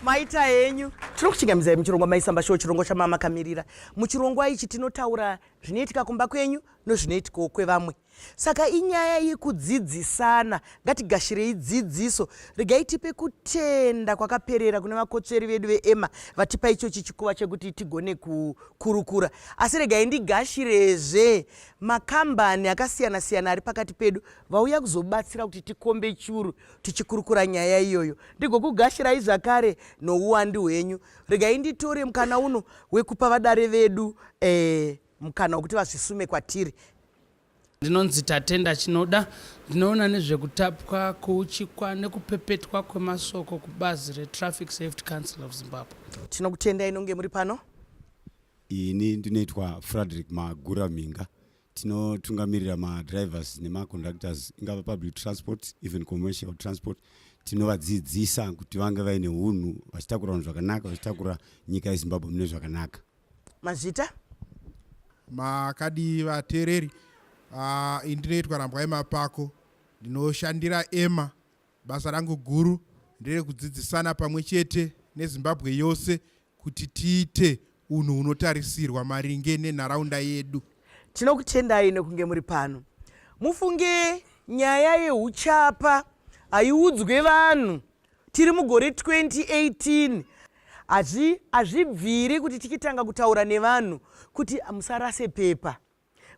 maita henyu tiri kuchingamidza muchirongwa maisamba show chirongo chamamakamirira muchirongwa ichi tinotaura zvinoitika kumba kwenyu nozvinoitikawo kwevamwe Saka inyaya yekudzidzisana, ngatigashirei dzidziso. Regai tipe kutenda kwakaperera kune vakotsveri vedu veEmma vatipa ichochi chikuva chekuti tigone kukurukura. Asi regai ndigashirezve makambani akasiyana siyana ari pakati pedu vauya kuzobatsira kuti tikombe churu tichikurukura nyaya iyoyo. Ndigokugashirai zvakare nouwandu hwenyu. Regai nditore mukana uno wekupa vadare vedu eh, mukana wekuti vazvisume kwatiri ndinonzi tatenda chinoda ndinoona nezvekutapwa kuuchikwa nekupepetwa kwemasoko kubazi retraffic safety council of zimbabwe tinokutenda inonge muri pano ini ndinoitwa frederick magura mhinga tinotungamirira madrivers nemaconductors ingava public transport even commercial transport tinovadzidzisa kuti vange vaine unhu vachitakura unhu zvakanaka vachitakura nyika yezimbabwe mune zvakanaka mazvita makadii vateereri uh, ah, indinoitwa rambwai mapako ndinoshandira ema basa rangu guru nderekudzidzisana pamwe chete nezimbabwe yose kuti tiite unhu hunotarisirwa maringe nenharaunda yedu tinokutendai nekunge muri pano mufunge nyaya yeuchapa haiudzwe vanhu tiri mugore 2018 hazvibviri kuti tichitanga kutaura nevanhu kuti musarase pepa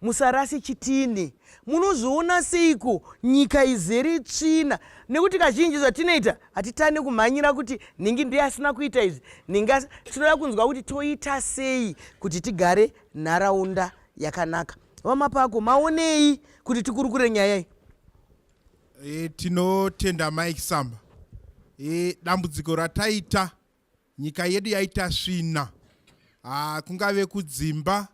musarase chitini munozviona seiko nyika izere tsvina nekuti kazhinji zvatinoita hatitane kumhanyira kuti nhingi ndiye asina kuita izvi nhingi tinoda kunzwa kuti toita sei kuti tigare nharaunda yakanaka vamapako maonei kuti tikurukure nyaya iyi E, tinotenda Mike Samba. E, dambudziko rataita nyika yedu yaita svina ah, kungave kudzimba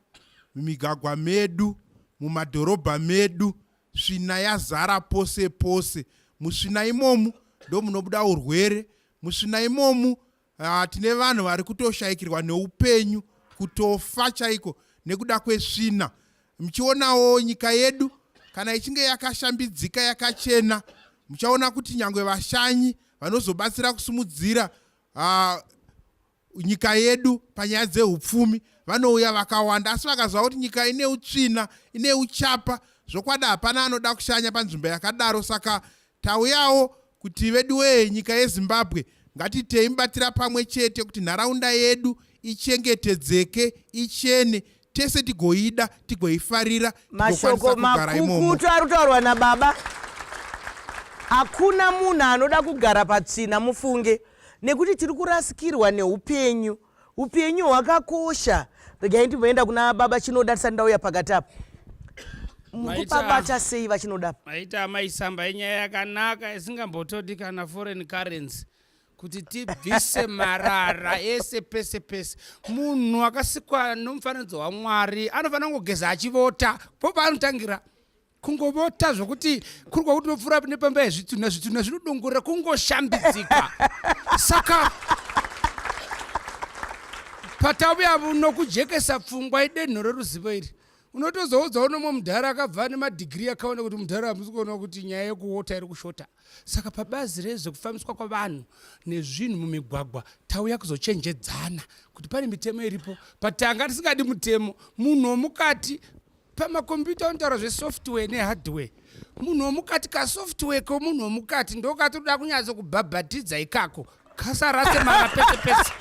mumigagwa medu mumadhorobha medu svina yazara pose pose musvina imomu ndomunobuda urwere musvina imomu Ah, tine vanhu vari kutoshayikirwa neupenyu kutofa chaiko nekuda kwesvina muchionawo nyika yedu kana ichinge yakashambidzika yakachena muchaona kuti nyange vashanyi vanozobatsira kusimudzira uh, nyika yedu panyaya dzeupfumi vanouya vakawanda asi vakaziva kuti nyika ine utsvina ine uchapa zvokwadi hapana anoda kushanya panzvimbo yakadaro saka Tauyawo kuti veduwee nyika yezimbabwe ngatitei mubatira pamwe chete kuti nharaunda yedu ichengetedzeke ichene tese tigoida tigoifarira mashoko makukutu ari kutaurwa nababa hakuna munhu anoda kugara patsvina mufunge nekuti tiri kurasikirwa neupenyu upenyu hwakakosha regai ndimboenda kuna baba chinoda tisati ndauya pakati apo mukupabata sei vachinoda maita amai samba inyaya yakanaka isingambotodi kana foreign currency kuti tibvise marara ese pese pese munhu akasikwa nomufananidzo wamwari anofanira kungogeza achivota po paanotangira kungovota zvokuti kuri kwakuti unopfuura nepamba yezvitunha zvitunha zvinodongorera kungoshambidzika saka patauya nokujekesa pfungwa idenho reruzivo iri unotozoudza unomwe mudhara akabva ane madhigiri akaona kuti mudhara hamusi kuona kuti nyaya yekuwota iri kushota saka pabazi rezvekufambiswa kwavanhu nezvinhu mumigwagwa tauya kuzochenjedzana kuti pane mitemo iripo patanga tisingadi mutemo munhu womukati pamakombiyuta unotaura zvesoftware nehardware munhu womukati kasoftware komunhu womukati ndokatoda kunyatso kubhabhatidza ikako kasarase mara pese pese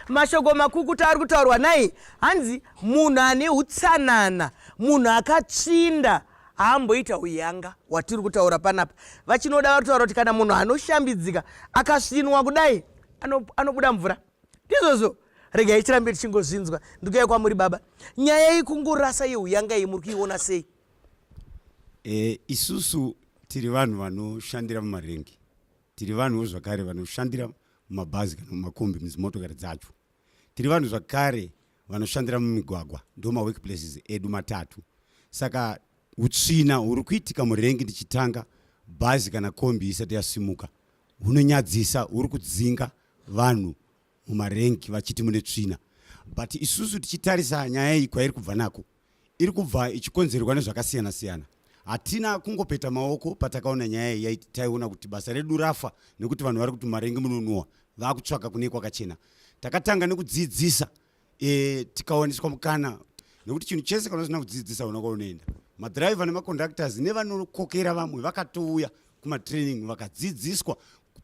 mashoko makukuta ari kutaurwa nai hanzi munhu ane utsanana munhu akatsvinda haamboita uyanga watiri kutaura panapa vachinoda vari kutaura kuti kana munhu anoshambidzika akasvinwa kudai anobuda mvura ndizvozvo regai tirambe tichingozvinzwa ndikauya kwamuri baba nyaya iyi kungorasa yehu yanga iyi muri kuiona sei e, isusu tiri vanhu vanoshandira mumarengi tiri vanhuwo zvakare vanoshandira mumabhazi kana mumakombi muzimotokari dzacho tiri vanhu zvakare vanoshandira mumigwagwa ndo mawork places edu matatu saka utsvina huri kuitika murengi ndichitanga bhazi kana kombi isati yasimuka hunonyadzisa huri kudzinga vanhu mumarengi vachiti mune tsvina but isusu tichitarisa nyaya iyi kwairi kubva nako iri kubva ichikonzerwa nezvakasiyana siyana hatina kungopeta maoko patakaona nyaya iyi taiona kuti basa redu rafa nekuti vanhu vari kuti marengi munonuwa vakutsvaka kune kwakachena takatanga nekudzidzisa e, tikawaniswa mukana nekuti chinhu chese kana usina kudzidzisa una kwaunoenda madhiraivha nemaconductors nevanokokera vamwe vakatouya kumatraining vakadzidziswa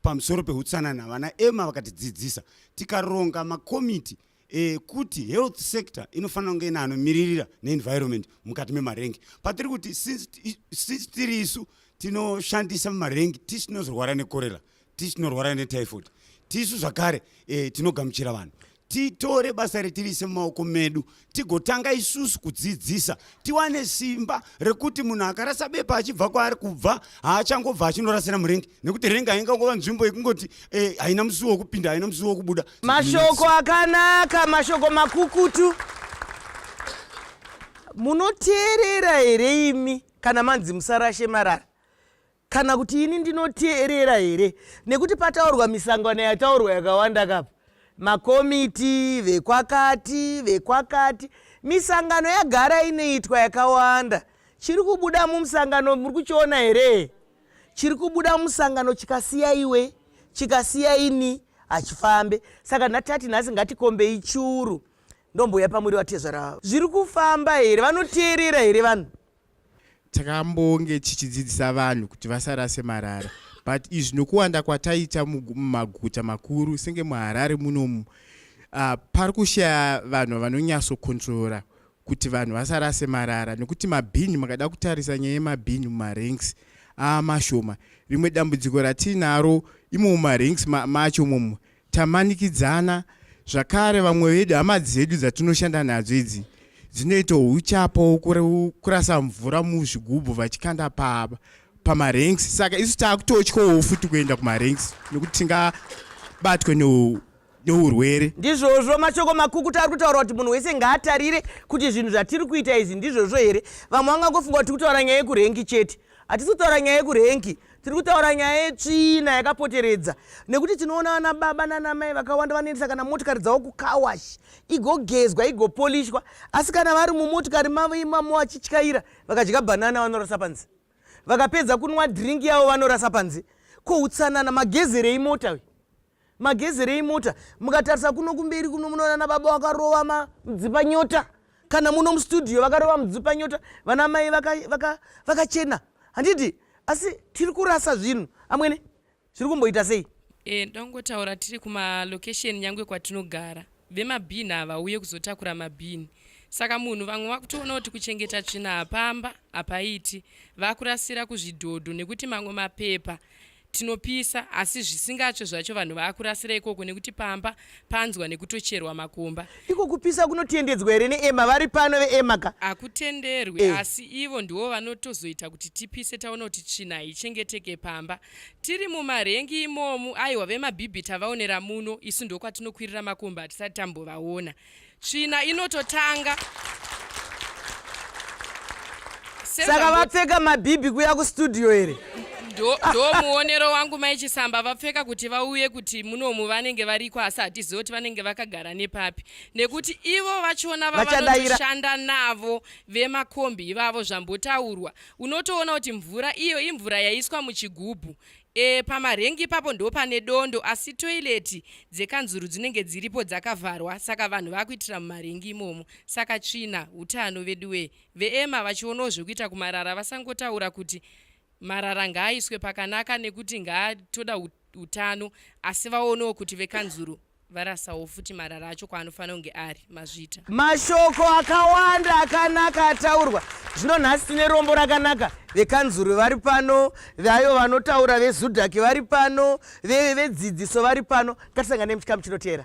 pamusoro peutsanana vana ema vakatidzidzisa tikaronga makomiti ekuti eh, health sector inofanira kunge ina anomiririra neenvironment mukati memarengi patiri kuti sisi tiri isu tinoshandisa mumarengi tisinozorwara nekorera tisu tinorwara netyphoid tisu zvakare e, tinogamuchira vanhu titore basa retirise mumaoko medu tigotanga isusu kudzidzisa tiwane simba rekuti munhu akarasa bepa achibva kwaari kubva haachangobva achinorasira murengi nekuti rengi haingangova nzvimbo yekungoti eh, haina musuwo wekupinda haina musuwo wekubuda mashoko akanaka mashoko makukutu munoteerera here imi kana manzi musarashe marara kana kuti ini ndinoteerera here nekuti pataurwa misangano yataurwa yakawanda kapa makomiti vekwakati vekwakati misangano yagara inoitwa yakawanda chiri kubuda mumusangano muri kuchiona here chiri kubuda mumusangano chikasiya iwe chikasiya ini hachifambe saka ndatati nhasi ngatikombei churu ndombouya pamuri vatezvara zviri kufamba here vanoteerera here vanhu takambonge tichidzidzisa vanhu kuti vasarase marara but izvi nokuwanda kwataita mumaguta makuru senge muharare munomu uh, pari kushaya vanhu vanonyatsokontrora kuti vanhu vasarase marara nokuti mabhini makada kutarisa nyaya yemabhini mumaranks aamashoma rimwe dambudziko ratiinaro imo mumaranks macho momo Tamanikidzana zvakare vamwe vedu hama dzedu dzatinoshanda nadzo idzi dzinoita uchapo kurasa mvura muzvigubhu vachikanda paba pamaranks saka isu taakutotyawo futi kuenda kumaranks nekuti tingabatwe neurwere ndizvozvo mashoko makukuta ari kutaura kuti munhu wese ngaatarire kuti zvinhu zvatiri kuita izvi ndizvozvo here vamwe vangangofunga kuti tiri kutaura nyaya yekurengi chete hatisi kutaura nyaya yekurenki tiri kutaura nyaya yetsvina yakapoteredza nekuti tinoona vana baba nana mai vakawanda vanoendesa kana motikari dzavo kukawash igogezwa igopolishwa asi kana vari mumotikari mavo imamo vachityaira vakadya bhanana vanorasa panze vakapedza kunwa drink yavo vanorasa panze ko utsanana magezerei mota uyu magezerei mota mukatarisa kuno kumberi kuno munoona nababa vakarova madzipa nyota kana muno mustudio vakarova mudzipa nyota vana mai vakachena vaka, vaka handiti asi tiri kurasa zvinhu amwene zviri kumboita sei e, ndongotaura tiri kumalocation nyangwe kwatinogara vemabhini havauye kuzotakura mabhini saka munhu vamwe vakutoona kuti kuchengeta tsvina hapamba hapaiti vakurasira kuzvidhodho nekuti mamwe mapepa tinopisa asi zvisingatsve zvacho vanhu vaakurasira ikoko nekuti pamba panzwa nekutocherwa makomba iko kupisa kunotiendedzwa here neema vari pano veema ka hakutenderwi eh. asi ivo ndiwo vanotozoita kuti tipise taona kuti tsvina haichengeteke pamba tiri mumarengi imomu aiwa vemabhibhita vaonera muno isu ndokwatinokwirira makomba hatisati tambovaona tsvina inototanga saka vapfeka mabhibhi kuya kustudio here ndomuonero wangu mai chisamba vapfeka kuti vauye kuti munomu vanenge variko asi hatizivi kuti vanenge vakagara nepapi nekuti ivo vachona vavanoshanda navo vemakombi ivavo zvambotaurwa unotoona kuti mvura iyo imvura yaiswa muchigubhu E, pamarengi ipapo ndopane dondo asi toileti dzekanzuru dzinenge dziripo dzakavharwa saka vanhu vakuitira mumarengi imomo saka tsvina utano veduwee veema vachionawo zvekuita kumarara vasangotaura kuti marara ngaaiswe pakanaka nekuti ngaatoda utano asi vaonewo kuti vekanzuru varasawo futi marara acho kwaanofanira kunge ari mazvita mashoko akawanda akanaka ataurwa zvino nhasi tine rombo rakanaka vekanzuru vari pano vayo vanotaura vezudhaki vari pano vedzidziso vari pano ngatisangane muchikamu chinoteera